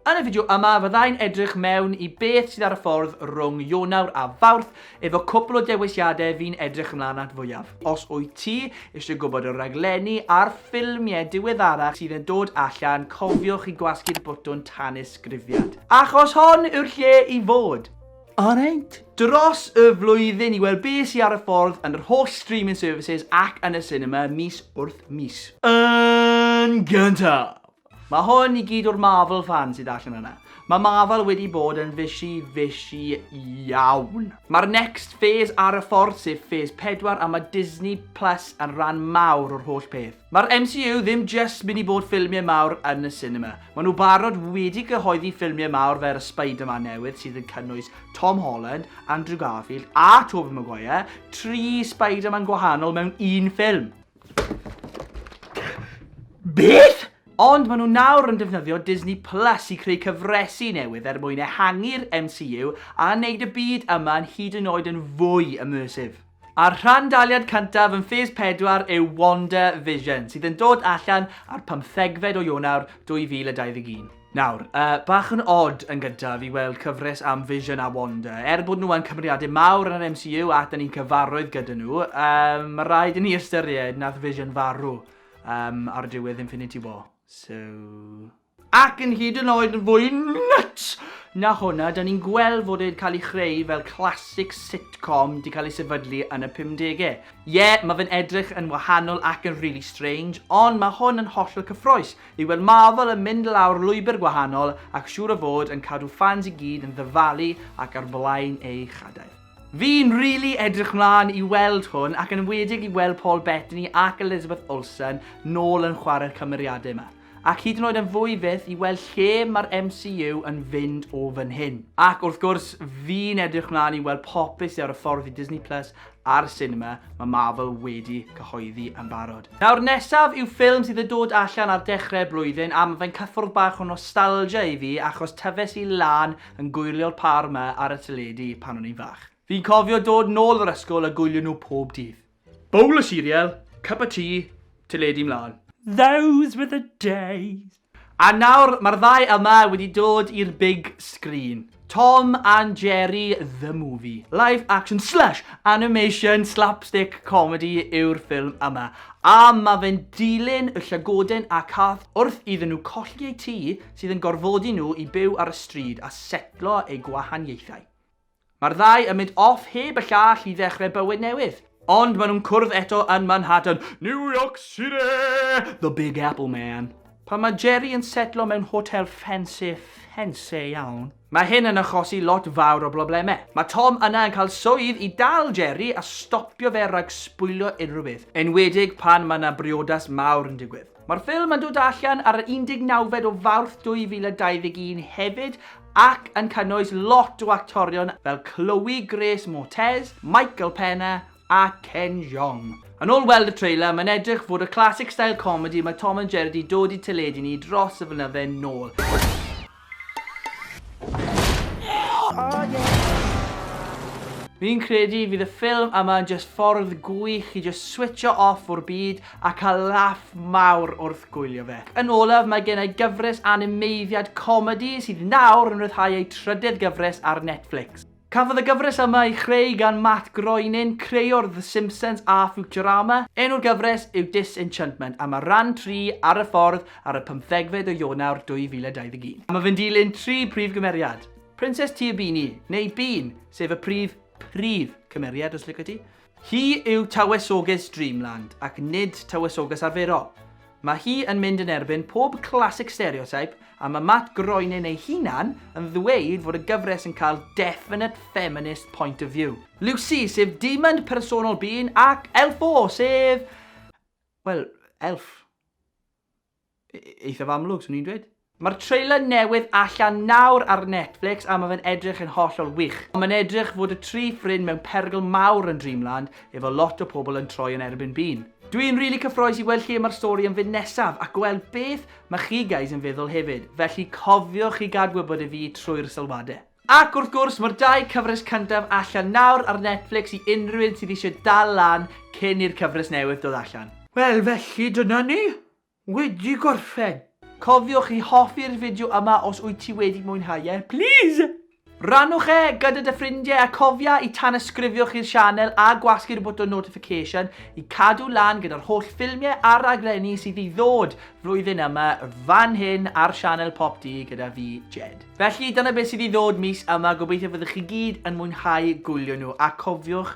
Yn y fideo yma, fyddai'n edrych mewn i beth sydd ar y ffordd rhwng Ionawr a Fawrth efo cwpl o dewisiadau fi'n edrych ymlaen at fwyaf. Os wyt ti eisiau gwybod y rhaglenni a'r ffilmiau diweddarach sydd yn dod allan, cofiwch i gwasgu'r botwm tanysgrifiad. Achos hon yw'r lle i fod! Alright! Dros y flwyddyn i weld be sy ar y ffordd yn yr holl streaming services ac yn y sinema mis wrth mis. Yn gyntaf! Mae hwn i gyd o'r Marvel fans sydd allan yna. Mae Marvel wedi bod yn fishy, fishy iawn. Mae'r next phase ar y ffordd sef Phase 4 a mae Disney Plus yn rhan mawr o'r holl peth. Mae'r MCU ddim jyst mynd i bod ffilmiau mawr yn y sinema. Mae nhw barod wedi cyhoeddi ffilmiau mawr fer y Spider-Man newydd sydd yn cynnwys Tom Holland, Andrew Garfield a Tobey Maguire, tri Spider-Man gwahanol mewn un ffilm! Beth? Ond maen nhw nawr yn defnyddio Disney Plus i creu cyfresu newydd er mwyn ehangu'r MCU a wneud y byd yma yn hyd yn oed yn fwy immersive. A'r rhan daliad cyntaf yn Phase 4 yw Wonder Vision, sydd yn dod allan ar pymthegfed o Ionawr 2021. Nawr, uh, bach yn odd yn gyntaf i weld cyfres am Vision a Wanda. Er bod nhw yn cymeriadau mawr yn yr MCU ac da ni'n cyfarwydd gyda nhw, um, mae rhaid i ni ystyried nath Vision farw um, ar diwedd Infinity War. So... Ac yn hyd yn oed yn fwy nuts na hwnna, da ni'n gweld fod e'n cael ei chreu fel classic sitcom di cael ei sefydlu yn y 50au. Ie, yeah, mae fe'n edrych yn wahanol ac yn really strange, ond mae hwn yn hollol cyffroes. I weld Marvel yn mynd lawr lwybr gwahanol ac siŵr o fod yn cadw ffans i gyd yn ddyfalu ac ar flaen eu chadair. Fi'n rili edrych mlan i weld hwn ac yn enwedig i weld Paul Bettany ac Elizabeth Olsen nôl yn chware'r cymeriadau yma. Ac hyd yn oed yn fwy fyth i weld lle mae'r MCU yn fynd o fan hyn. Ac wrth gwrs, fi'n edrych mlan i weld popeth sy ar y ffordd i Disney Plus a'r sinema mae Marvel wedi cyhoeddi yn barod. Nawr nesaf yw ffilm sydd yn dod allan ar dechrau'r blwyddyn a mae fe'n cyffwrdd bach o nostalgia i fi achos tyfes i lan yn gwylio'r par yma ar y teledu pan o'n i'n fach. Fi'n cofio dod nôl o'r ysgol a gwylio nhw pob dydd. Bowl o cereal, cup of tea, teledu mlaen. Those were the days! A nawr mae'r ddau yma wedi dod i'r big screen. Tom and Jerry the Movie. Live action slash animation slapstick comedy yw'r ffilm yma. A mae fe'n dilyn y llygoden a cath wrth iddyn nhw colli eu tŷ sydd yn gorfodi nhw i byw ar y stryd a setlo eu gwahaniaethau. Mae'r ddau yn mynd off heb y llall i ddechrau bywyd newydd. Ond maen nhw'n cwrdd eto yn Manhattan, New York City! The Big Apple, man! Pan mae Jerry yn setlo mewn hotel ffansi, ffansi iawn. Mae hyn yn achosi lot fawr o broblemau. Mae Tom yna yn cael swydd i dal Jerry a stopio fe rhag sbwylio unrhyw beth, enwedig pan mae 'na briodas mawr yn digwydd. Mae'r ffilm yn dod allan ar yr 19fed o Fawrth 2021 hefyd ac yn cynnwys lot o actorion fel Chloe Grace Moretz, Michael Pena a Ken Jeong. Yn ôl weld y trailer, mae'n edrych fod y classic style comedy mae Tom and Jerry 'di dod i teledu ni dros y flynydde nôl. Oh yeah! Fi'n credu fydd y ffilm yma yn jyst ffordd gwych i jyst switcho off o'r byd a cael laff mawr wrth gwylio fe. Yn olaf, mae gen i gyfres animeiddiad comedi sydd nawr yn rhyddhau ei trydydd gyfres ar Netflix. Cafodd y gyfres yma ei chreu gan Matt Groening, creüwr The Simpsons a Futurama. Enw'r gyfres yw Disenchantment a mae rhan tri ar y ffordd ar y pymthegfed o Ionawr 2021. Mae fe'n dilyn tri prif gymeriad, Prinses Tir Beanie, neu Bean, sef y prif, prif, cymeriad os licio ti, Hi yw Tywysoges Dreamland ac nid Tywysoges arferol. Mae hi yn mynd yn erbyn pob classic stereotype a mae Matt Groening ei hunan yn ddweud fod y gyfres yn cael definite feminist point of view. Lucy, sef demon personol Bean ac Elfo, sef... wel, elf. eithaf amlwg, swn i'n dweud. Mae'r trailer newydd allan nawr ar Netflix a mae fe'n edrych yn hollol wych. Ond mae'n edrych fod y tri ffrind mewn perygl mawr yn Dreamland, efo lot o pobl yn troi yn erbyn Bean. Dwi'n rili cyffroes i weld lle mae'r stori yn fynd nesaf a gweld beth mae chi guys yn feddwl hefyd, felly cofiwch i gad gwybod i fi trwy'r sylwadau. Ac wrth gwrs, mae'r dau cyfres cyntaf allan nawr ar Netflix i unrhyw un sydd eisiau dal lan cyn i'r cyfres newydd dod allan. Wel, felly dyna ni! Wedi gorffen! Cofiwch i hoffi'r fideo yma os wyt ti wedi mwynhau e, plîs! Rannwch e gyda dy ffrindiau a cofia i tanysgrifiwch i'r sianel a gwasgu'r botwm notification i cadw lan gyda'r holl ffilmiau a raglenni sydd i ddod flwyddyn yma fan hyn ar sianel Pop Dee gyda fi, Jed. Felly, dyna beth sydd i ddod mis yma, gobeithio fyddwch chi gyd yn mwynhau gwylio nhw a cofiwch